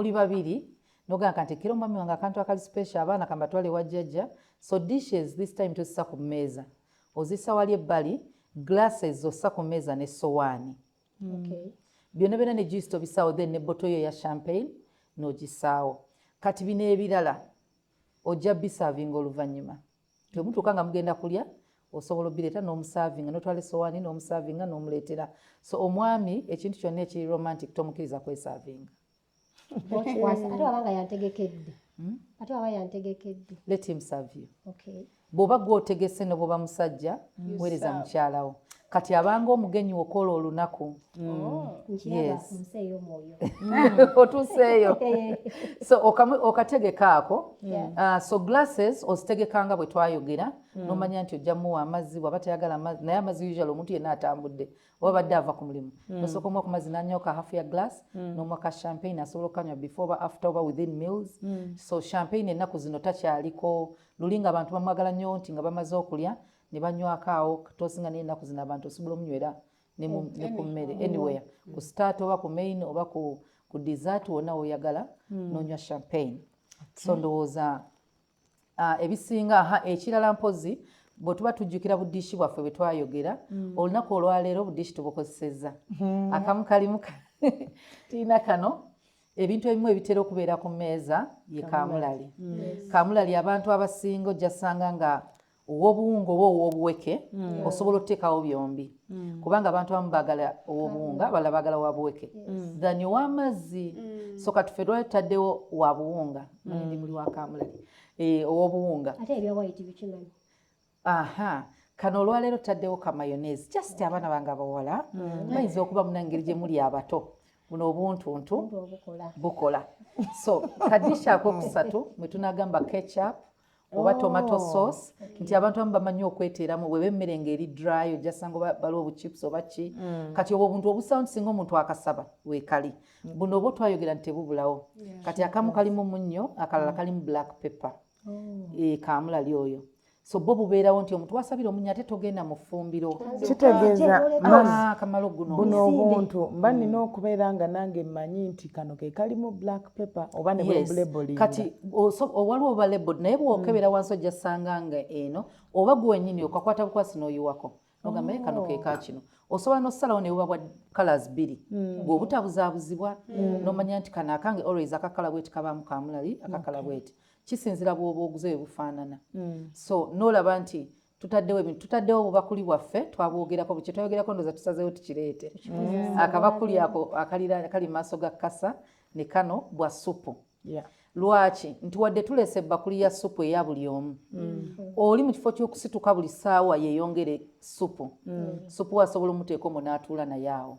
muli babiri nogamba kanti ekiro mwami wange akantu akali special abaana kambatwale ewa jjajja so dishes this time tozisa ku mmeeza ozisa wali ebbali glasses ossa ku mmeeza ne sowaani okay. byonna byonna ne juice tobisaawo then ne boto yo ya champagne nogisaawo kati bino ebirala ojja bisavinga oluvannyuma temutuuka nga mugenda kulya osobola obireeta n'omusavinga notwala esowaani n'omusavinga n'omuleetera so omwami ekintu kyonna ekiri romantic tomukiriza kwesavinga okikwasa ate waba nga yantegekedde hmm? ate waba yantegekedde let him serve you okay bwoba gwotegese nobwoba musajja weereza mukyalawo kati abanga omugenyi wokola olunaku mm. oh, otuseeyo so okategeka ako uh, so glasses ozitegekanga bwe twayogera mm. nomanya nti ojja muwa amazzi bwaba tayagala amazzi naye amazzi usual omuntu yenna atambudde oba badde ava ku mulimu mm. osooka omuwa ku mazzi nanyoka half ya glass mm. nomuwa ka champagne asobola okukanywa before oba after oba within meals mm. so champagne ennaku zino takyaliko luli nga abantu bamwagala nnyo nti nga bamaze okulya ne banywako awo tosinga naye ennaku zino abantu osobola omunywera ne ku mm, mmere mm. anywhere ku start oba ku main oba ku, ku dessert wonna woyagala mm. nonywa champagne okay. so ndowooza uh, ebisinga aha ekirala mpozi bwetuba tujjukira budiishi bwaffe bwe twayogera mm. olunaku olwaleero obudiishi tubukozesezza mm. akamu kalimu tiina kano ebintu ebimu ebitera okubeera ku mmeeza ye kamulali mm. yes. kamulali abantu abasinga ojjasanga nga owobuwunga oba owobuweke mm. osobola oteekawo byombi mm. kubanga abantu abamu bagala owobuwunga mm. abalala bagala wabuweke yes. than owamazzi mm. so katufe lwali tutaddewo wabuwunga mm. ndi muli wakamulali e, eh, owobuwunga ate ebyawayiti bikimanyi aha kano olwaleero tutaddewo kamayonese just okay. abaana bange abawala mm. bayinza okuba munangeri gye muli abato buno obuntuntu bukola so kadisha akokusatu mwetunagamba ketchup oba oh, tomato sauce okay. nti abantu abamu bamanyi okweteeramu bweba emmere nga eri dry ojasanga baliwo obuchips oba ki mm. kati obwo obuntu obusawo nti singa omuntu akasaba wekali mm. buno oba otwayogera nti tebubulawo yeah. kati akamu kalimu munnyo akalala mm. kalimu black pepper oh. e, eh, kamulali oyo so bo bubeerawo nti omuntu wasabira omunya ate togenda mu ffumbiro kitegeeza ah, kamalo guno buno obuntu mba nina okubeera nga nange mmanyi nti kano ke kalimu black paper oba ne yes. label kati waliwo oba label naye bwokebera mm. wansi ojja sanga nga eno oba gwenyini okakwata bukwasi noyiwako nogamba oh. kano keka kino osobola nosalawo newuba bwa colors biri mm. gwe obutabuzabuzibwa mm. nomanya nti kano akange always akakala bweti kabamu kamulali akakala bweti kisinzira bwoba oguze webufaanana mm. so nolaba nti tutaddewo ebintu tutaddewo obubakuli bwaffe twabwogerako bukye twayogerako ndoza tusazeewo tukireete mm. akabakuli ako akali mu maaso ga kasa ne kano bwa supu lwaki nti wadde tuleese ebbakuli ya supu eya buli omu mm. oli mu kifo ky'okusituka buli ssaawa yeeyongere supu mm. supu asobola omuteeka omu n'atuula naye awo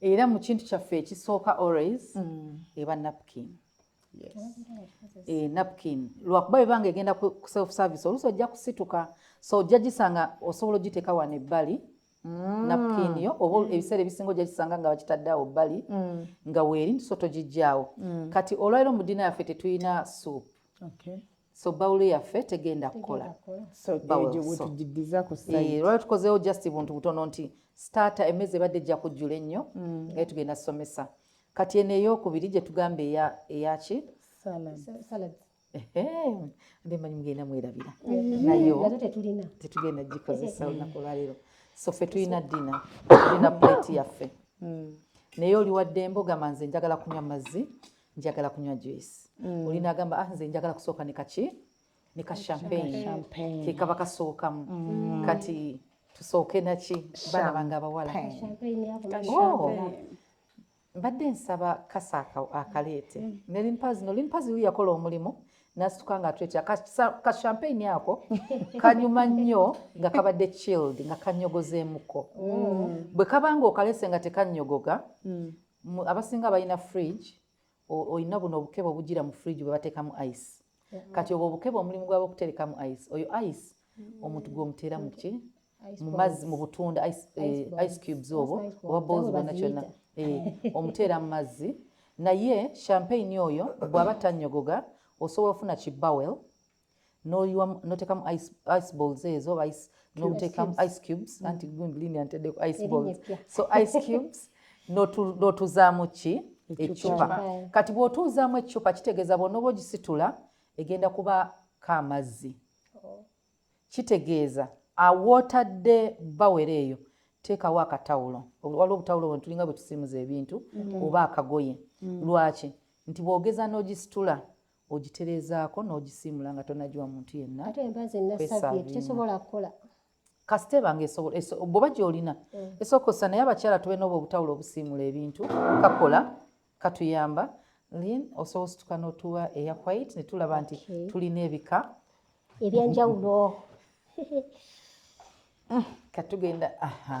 era mu kintu kyaffe ekisooka always eba napkin eh, napkin lwakuba ebanga egenda ku self service oluusi ojja kusituka so ojja gisanga osobola ogiteeka wano ebbali Mm. napkin yo oba mm. ebiseera ebisinga ojja kisanga nga bakitadde awo bbali mm. nga weeri nti so togijjaawo kati olwaliro mu ddiina yaffe tetulina soup so bawulo yaffe tegenda kukola eh, lwali tukozeewo just buntu butono nti starta emmeezi ebadde ejja kujjula ennyo mm. naye tugenda tusomesa kati eno eyokubiri gye tugamba eyaki nde manyi mugenda mwerabira mm. nayo tetugenda gikozesa olunaku olwaleero so fe tulina dina tulina plate yaffe mm. naye oliwaddembe ogamba nze njagala kunywa mazzi njagala kunywa juice mm. oli nagamba ah, nze njagala kusooka ne kaki ne ka champagne ke kaba kasookamu mm. kati tusooke naki baana bange abawala oh. mbadde nsaba kasa akaleete mm. ne limpazi no limpazi yu yakola omulimu nasituka nga atwetya ka champagne ako kanyuma nnyo nga kabadde chilled nga kanyogozeemuko mm. bwe kabanga okalese nga tekanyogoga abasinga balina fridge olina buno obukebe obujira mu fridge bwebatekamu ice kati obwo obukebe omulimu gwaba okuterekamu ice oyo ice mm. omuntu gwomutera muki mumazzi mu butunda ice eh, cubes obwo oba boozi bona kyona eh, omuteera mu mazzi naye champagne oyo bwaba tanyogoga osobola ofuna ki bowel noyiwa notekamu ice balls ezo ice notekamu ice cubes mm. anti gundi lini antedeko ice balls so ice cubes notuzaamu ki ecupa kati bwotuuzaamu ecupa kitegeeza bwonoba ogisitula egenda kuba ka amazzi oh. kitegeeza awootadde bawere eyo teekawo akatawulo waliwo obutawulo bwe tulinga bwe tusiimuza ebintu mm. oba akagoye mm. lwaki nti bwogeza n'ogisitula ogitereezaako n'ogisiimula nga tonagiwa muntu yenna ate embaazi enasabye tesobola kukola kasita eba nga esobola bwoba gyolina mm. esooka osa naye abakyala tube nooba obutawula obusiimula ebintu kakola katuyamba lin osobola osituka notuwa eya white ne tulaba nti tulina ebika ebyenjawulo mm, katugenda aha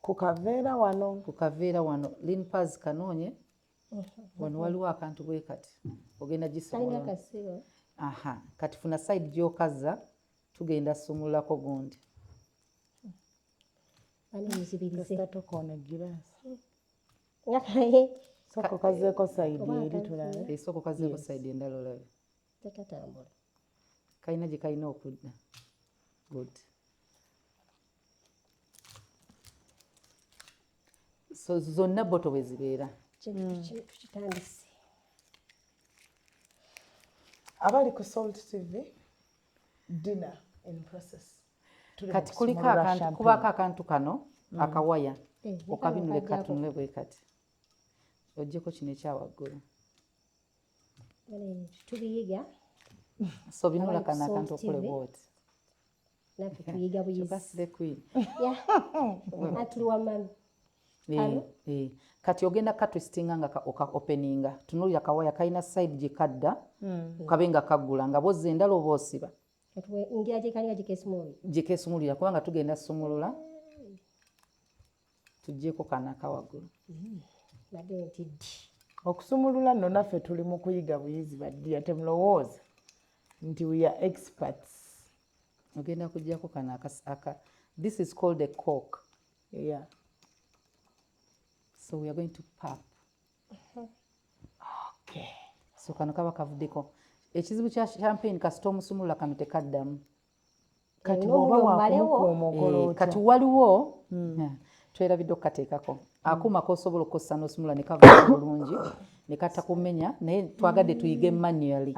Ku kaveera wano. Ku kaveera wano. Lean Paz kanoonye. Wano waliwo akantu bwe kati. Ogenda gisobola. Aha. Kati funa side gy'okazza tugenda sumululako gundi. Ani muzibirize. Kasita tokoona giraasi. Ngakaye. Soko kazeeko sayidi eri tulabe. Eh, Soko kazeeko sayidi endala olabe. Tekatambula. Kalina gye kalina okudda. Good. so zonna boto bwe zibeera tukitandise abali ku salt tv dinner in process kati kuliko akantu kubako akantu kano mm. akawaya eh, okabinule katunule bwe kati ojjeko kino ekyawaggulu tubiyiga so binula kana akantu okule bwoti naffe tuyiga buyizatuli wamami kati ogenda katwistinga nga oka openinga tunulira kawaya kalina side gyekadda hmm. kabe nga kaggula nga bozza endala oba osiba gyekesumulira kubanga tugenda sumulula tujjeko kanaka waggulu nade mm-hmm. ntiddi okusumulula nno naffe tuli mu kuyiga buyizi baddiya temulowooza nti we are experts ogenda kujjako kano aka this is called a cork yeah so we are going to pap mm-hmm. okay so kano kaba kavuddeko ekizibu kya champagne kasita omusumulula kano tekaddamu kati bwoba wakumukuuma ogolooto kati waliwo hmm. twerabidde okukateekako akuuma kosobola okukosa nosumula nekava bulungi nekatta kumenya naye twagadde tuyige mm. manually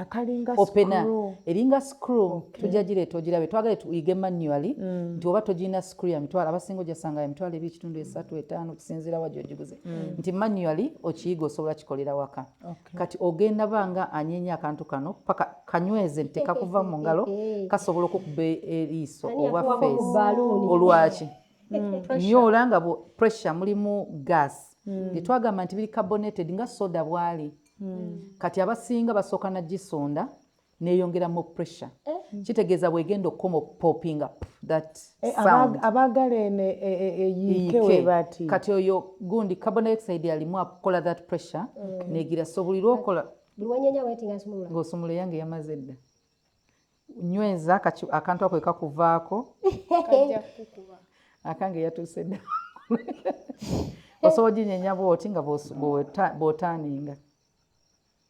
opena eringa screw tujja gireeta ogirabe twagadde tuyige manually mm. nti oba togirina screw ya mitwalo abasinga ojasanga ya mitwalo eby ekitundu esatu etaano okusinziira wa gyogiguze mm. nti manually okiyiga osobola kikolera waka Okay. Kati ogenda banga anyenya akantu kano paka kanyweze nti tekakuva mu ngalo kasobola okukuba eriiso oba face olwaki mm. nyo olanga bu pressure mulimu gas mm. getwagamba nti biri carbonated nga soda bwali mm. kati abasinga basooka na gisonda neyongera mo pressure eh. kitegeeza bwegenda okukoma okupopinga eh, abaagala eno e, e, e, eyiike webati kati oyo gundi carbon dioxide alimu akola that pressure mm. negira so buli lwokola ng'osumula eyange yamaze dda nyweza akantu ako ekakuvaako akange yatuuse dda osobola oginyenya bwoti nga bwotaninga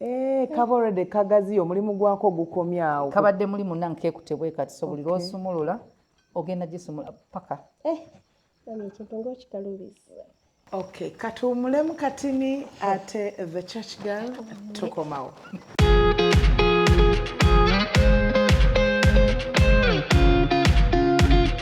Eh, kaba already kagaziyo omulimu gwako ogukomye awo kabadde muli munange kekute bwe kati so buli lwosumulula ogenda gisumula paka eh, ekintu ngaokikalubiza ok katuwumulemu katini ate the church girl tukomawo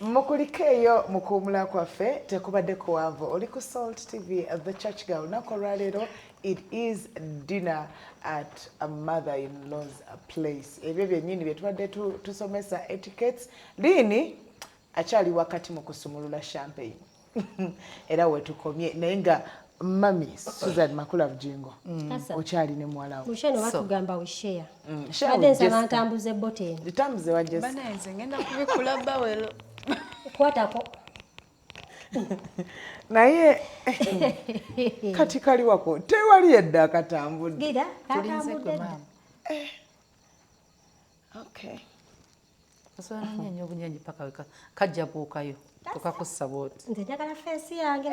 mukulike eyo mu kuwumula kwaffe tekubadde kuwanvu oli ku salt tv the church girl lunaku olwaleero it is dinner at a mother in laws place ebyo byennyini bye tubadde tusomesa etiquettes liini akyali wakati mu kusumulula champagne era wetukomye naye nga mami Susan Makula Bujingo mm. okyali ne muwala wo musheno batugamba we share mm. share nsaba ntambuze boteni ntambuze wa Jessica bana nze ngenda kubikula bawelo kwatako naye kati kali wako tewali edda akatambudde gira kakambudde eh. okay osobola nonyeenya obunyenyi paka weka kajja buukayo tokakussa bwoti nze njagala fensi yange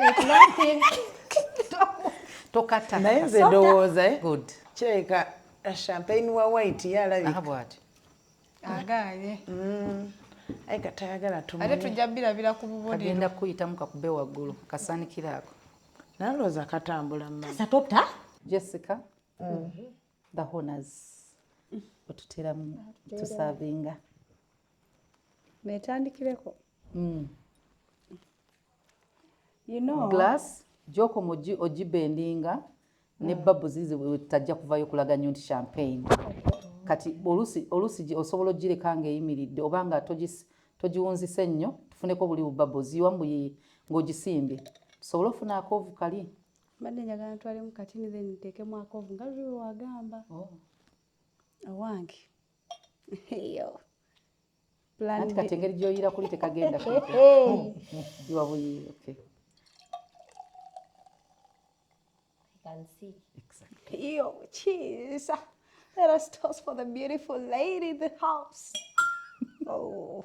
tokata naye nze ndowooza eh? good kyeka eh, champagne wa white yalabika bwati agaye mm. ayi katayagala tumate tujja birabira ku bubonero agenda kuyitamu kakube waggulu kasaanikira ako nalowooza katambula mmasatota jessica mm. the honors otuteramu tusavinga netandikireko mm. you know, glass gyokomu ogibendinga ne ah. babu zizi tajja kuvayo kulaga nyo nti champagne kati olusi olusi osobola ogireka nga eyimiridde oba nga togiwunzise nnyo tufuneko buli bubabu ziwa mbuyi ng'ogisimbye tusobole ofuna akoovu kali mbadde njagala ntwalemu katini then nteekemu akovu nga luli wewagamba oh. owange eyo anti kati engeri gyoyira kuli tekagenda iwabuyiire okay. iyo kiisa let us toast for the beautiful lady in the house oh.